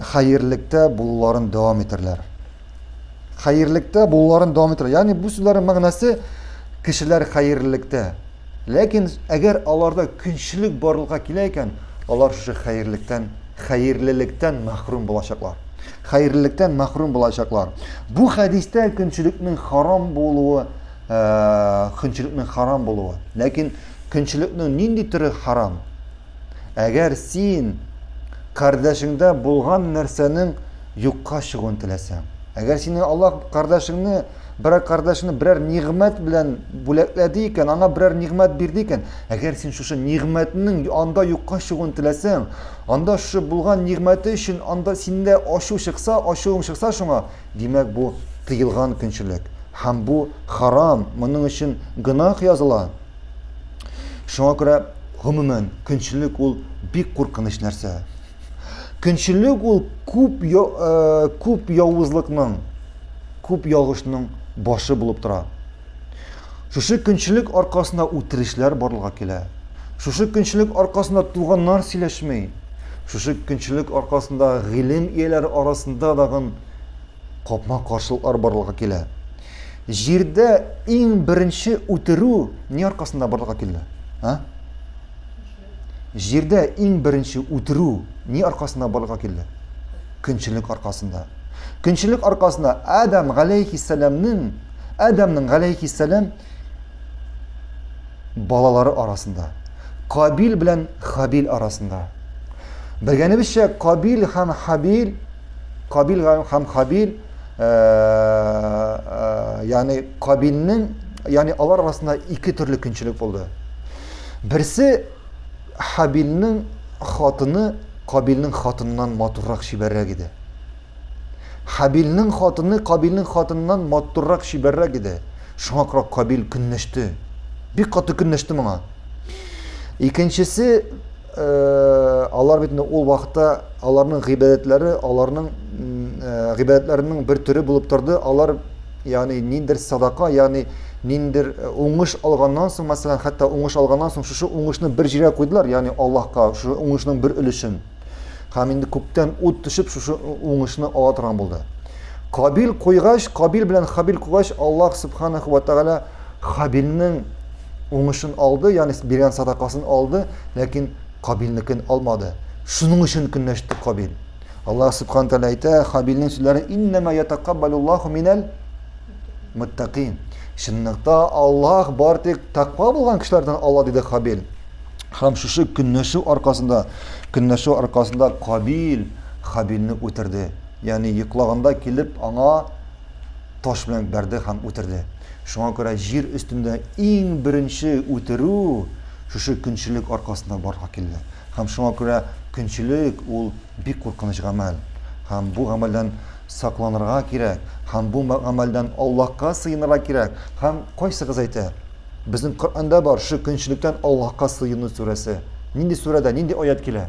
хәерлектә булуларын дәвам итәрләр. Хәерлектә булуларын дәвам итәрләр. Ягъни бу сүзләрнең мәгънәсе кешеләр хәерлектә. Ләкин әгәр аларда көнчелек барлыкка килә икән, алар шушы хәерлектән, хәерлелектән мәхрүм булачаклар. Хәерлелектән мәхрүм булачаклар. Бу хәдистә көнчелекнең харам булуы, э, көнчелекнең харам булуы. Ләкин көнчелекнең нинди төре харам? Әгәр син кардәшеңдә булган нәрсәнең юкка чыгуын теләсәң, әгәр сине Аллаһ кардәшеңне, берәр кардәшеңне берәр нигъмәт белән бүләкләде икән, аңа берәр нигъмәт бирде икән, әгәр син шушы нигъмәтнең анда юкка чыгуын теләсәң, анда шушы булган нигъмәте өчен анда синдә ачу чыкса, ачуың чыкса шуңа, димәк бу тыелган көнчелек. Һәм бу харам, моның өчен гөнаһ языла. Шуңа күрә, гомумән, көнчелек ул бик куркыныч нәрсә. Көнчелек ул күп э, күп явызлыкның, күп ялгышның башы булып тора. Шушы көнчелек аркасында үтерешләр барлыга килә. Шушы көнчелек аркасында туганнар сөйләшми. Шушы көнчелек аркасында гыйлем ияләре арасында дагын капма-каршылыклар барлыга килә. Җирдә иң беренче үтерү ни аркасында барлыкка килде? А? Җирдә иң беренче үтерү ни аркасында барлыкка килде? Көнчелек аркасында. Көнчелек аркасында Адам галәйхиссәламнең Адамның галәйхиссәлам балалары арасында, Кабил белән Хабил арасында. Белгәнебезчә, Кабил һәм Хабил, Кабил һәм Хабил яни Кабилнең, яни алар арасында ике төрле көнчелек булды. Берсе Хабилнең хатыны Кабилнең хатыныннан матуррак чибәррәк иде. Хабилнең хатыны Кабилнең хатыныннан матуррак чибәррәк иде. Шуңа күрә Кабил көнләште. Бик каты көнләште моңа. Икенчесе алар бит инде ул вакытта аларның гыйбадәтләре аларның гыйбадәтләренең бер төре булып торды алар ягъни ниндидер садака ягъни ниндидер уңыш алганнан соң мәсәлән хәтта уңыш алганнан соң шушы уңышны бер җиргә куйдылар ягъни аллаһка шушы уңышның бер өлешен һәм инде күктән ут төшеп шушы уңышны ала торган булды кабил куйгач кабил белән хабил куйгач аллаһ субханаху ва тәғәлә хабилнең Уңышын алды, янис биргән садакасын алды, ләкин Кабилнекен алмады. Шуның өчен көнләште Кабил. Аллаһ Субхану тәгалә әйтә, Хабилнең сүзләре иннама ятакаббалуллаху минәл муттакин. Чынлыкта Аллаһ бар тик таква булган кешеләрдән ала диде Хабил. Һәм шушы көнләшү аркасында, көнләшү аркасында Кабил Хабилне үтерде. Ягъни йоклаганда килеп аңа таш белән бәрде һәм үтерде. Шуңа күрә җир өстендә иң беренче үтерү шушы көнчелек аркасында барга килде. Һәм шуңа күрә көнчелек ул бик куркыныч гамәл. Һәм бу гамәлдән сакланырга кирәк. Һәм бу гамәлдән Аллаһка сыенырга кирәк. Һәм кайсыгыз әйтә, безнең Коръәндә бар шушы көнчелектән Аллаһка сыену сүрәсе. Нинди сүрәдә, нинди аять килә?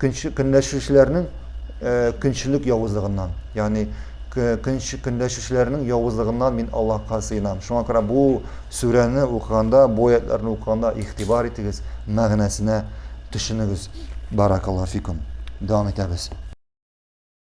көнләшүчеләрнең э, көнчелек явызлыгыннан ягъни көнләшүчеләрнең явызлыгыннан мин аллаһка сыенам шуңа күрә бу сүрәне укыганда бу аятьләрне укыганда игътибар итегез мәгънәсенә төшенегез баракаллафикум дәвам итәбез